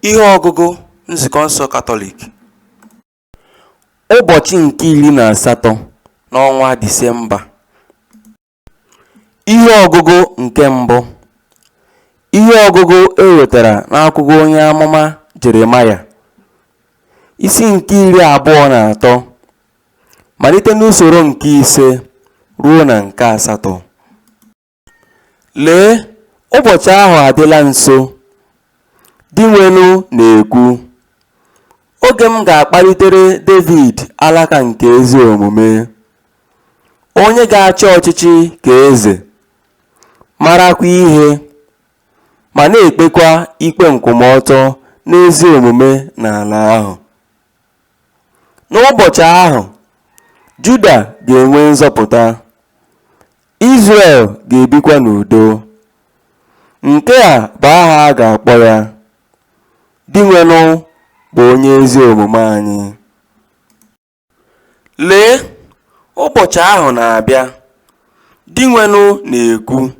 Ihe ọgụgụ Nzukọ nsọ Katọlik Ụbọchị nke iri na asatọ n'ọnwa Disemba Ihe ọgụgụ nke mbụ Ihe ọgụgụ e wetara n'akwụkwọ onye amụma Jeremaya isi nke iri abụọ na atọ malite n'usoro nke ise ruo na nke asatọ. Lee, ụbọchị ahụ adịla nso, Dinwenụ na-ekwu, oge m ga-akpalitere Devid alaka nke ezi omume, onye ga-achị ọchịchị ka eze, marakwa ihe, ma na-ekpekwa ikpe nkwụmọtọ n'ezi omume n'ala ahụ. N'ụbọchị ahụ, Juda ga-enwe nzọpụta. Izrel ga-ebikwa n'udo. Nke a bụ aha a ga-akpọ ya, Dinwenụ bụ onye ezi omume anyị. Lee, ụbọchị ahụ na-abịa, Dinwenụ na-ekwu,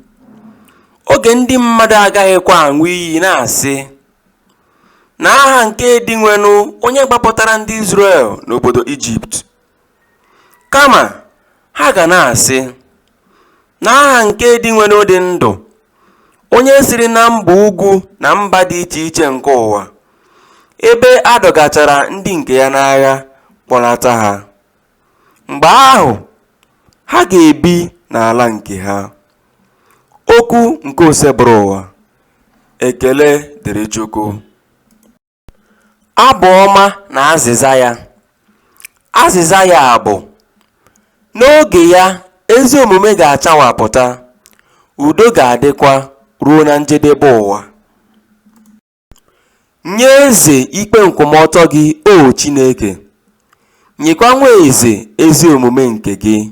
oge ndị mmadụ agaghịkwa aṅụ iyi na-asị, N'aha nke Dinwenụ onye gbapụtara ndị Izrel n'obodo Ijipt. Kama ha ga na-asị, N'aha nke Dinwenụ dị ndụ, onye siri na mba ugwu na mba dị iche iche nke ụwa, ebe a dọgachara ndị nke ya n'agha kpọlata ha. Mgbe ahụ, ha ga-ebi n'ala nke ha. Okwu nke Osebụrụwa. Ekele dịrị Chukwu. Abụ ọma na azịza ya. Azịza ya bụ, N'oge ya, ezi omume ga-achawapụta, udo ga-adịkwa ruo na njedebe ụwa. Nye eze ikpe nkwụmọtọ gị, O Chineke, nyekwa nwa eze ezi omume nke gị.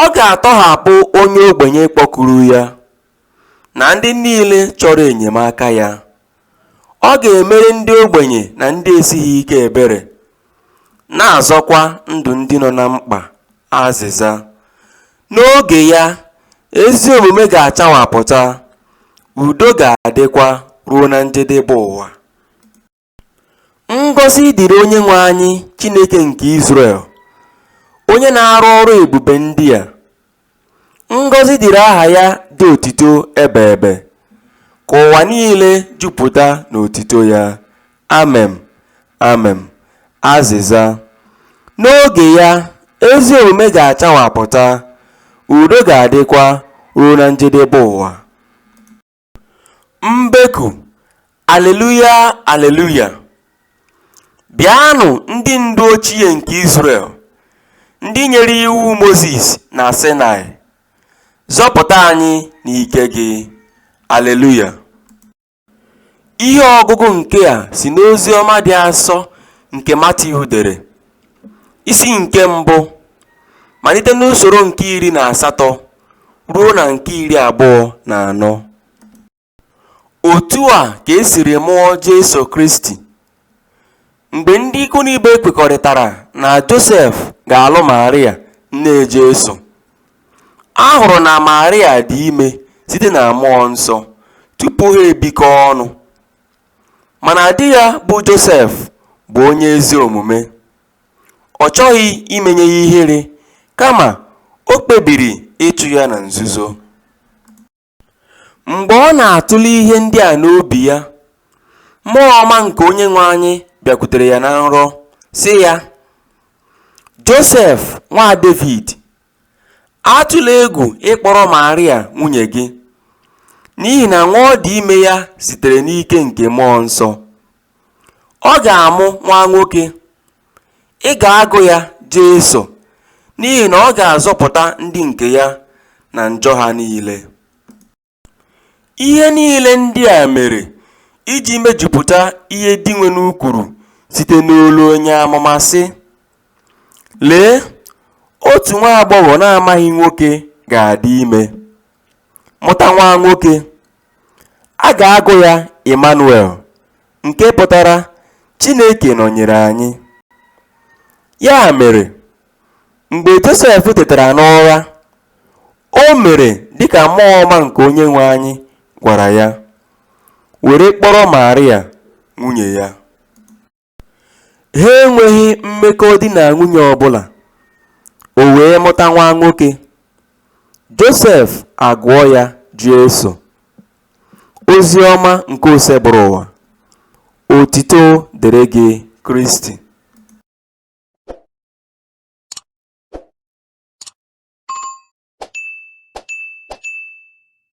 Ọ ga-atọhapụ onye ogbenye kpọkuru ya, na ndị niile chọrọ enyemaka ya. Ọ ga-emere ndị ogbenye na ndị esighị ike ebere, na-azọkwa ndụ ndị nọ na mkpa. Azịza. N'oge ya, ezi omume ga-achawapụta, udo ga-adịkwa ruo na njedebe ụwa. Ngọzi dịrị Onyenwe anyị Chineke nke Izrel, onye na-arụ ọrụ ebube ndị a. Ngọzi dịrị aha ya dị otito ebe ebe, ka ụwa niile jupụta n'otito ya. Amem, amem. Azịza. N'oge ya, ezi omume ga-achawapụta, udo ga-adịkwa ruo na njedebe ụwa. mbeku aleluya aleluya bịanụ ndị ndu ochie nke Izrel ndị nyere iwu Mozis na Sinai zọpụta anyị n'ike gị aleluya ihe ọgụgụ nke a si n'ozi ọma dị asọ nke Matiu dere isi nke mbụ malite n'usoro nke iri na asatọ ruo na nke iri abụọ na anọ. Otu a ka e siri mụọ Jesu Kristi. Mgbe ndị ikwu na ibe kwekọrịtara na Josef ga-alụ Maria nne Jesu, a hụrụ na Maria dị ime site na mmụọ nsọ tupu ha ebikọọ ọnụ. Mana di ya bụ Josef bụ onye ezi omume. Ọ chọghị imenye ya ihere, kama o kpebiri ịchụ ya na nzuzo. Mgbe ọ na-atụle ihe ndị a n'obi ya, mmụọ ọma nke Onyenwe anyị bịakwutere ya na nrọ, sị ya, Josef nwa Devid, atụla egwu ịkpọrọ Maria nwunye gị, n'ihi na nwa ọ dị ime ya sitere n'ike nke Mmụọ Nsọ. Ọ ga-amụ nwa nwoke, ị ga-agụ ya Jesu, n'ihi na ọ ga-azọpụta ndị nke ya na njọ ha niile. Ihe niile ndị a mere iji mejupụta ihe Dinwenu kwuru site n'olu onye amụma sị, Lee, otu nwa agbọghọ na-amaghị nwoke ga-adị ime, mụta nwa nwoke. A ga-agụ ya Emanuel, nke pụtara Chineke nọnyere anyị. Ya mere, mgbe Josef tetara n'ụra, o mere dị ka mmụọ ọma nke Onyenwe anyị gwara ya, were kpọrọ Maria nwunye ya. Ha enweghị mmekọ di na nwunye ọ bụla, o wee mụta nwa nwoke. Josef agụọ ya Jesu. Ozi ọma nke Osebụrụwa. Otito dịrị gị Kristi.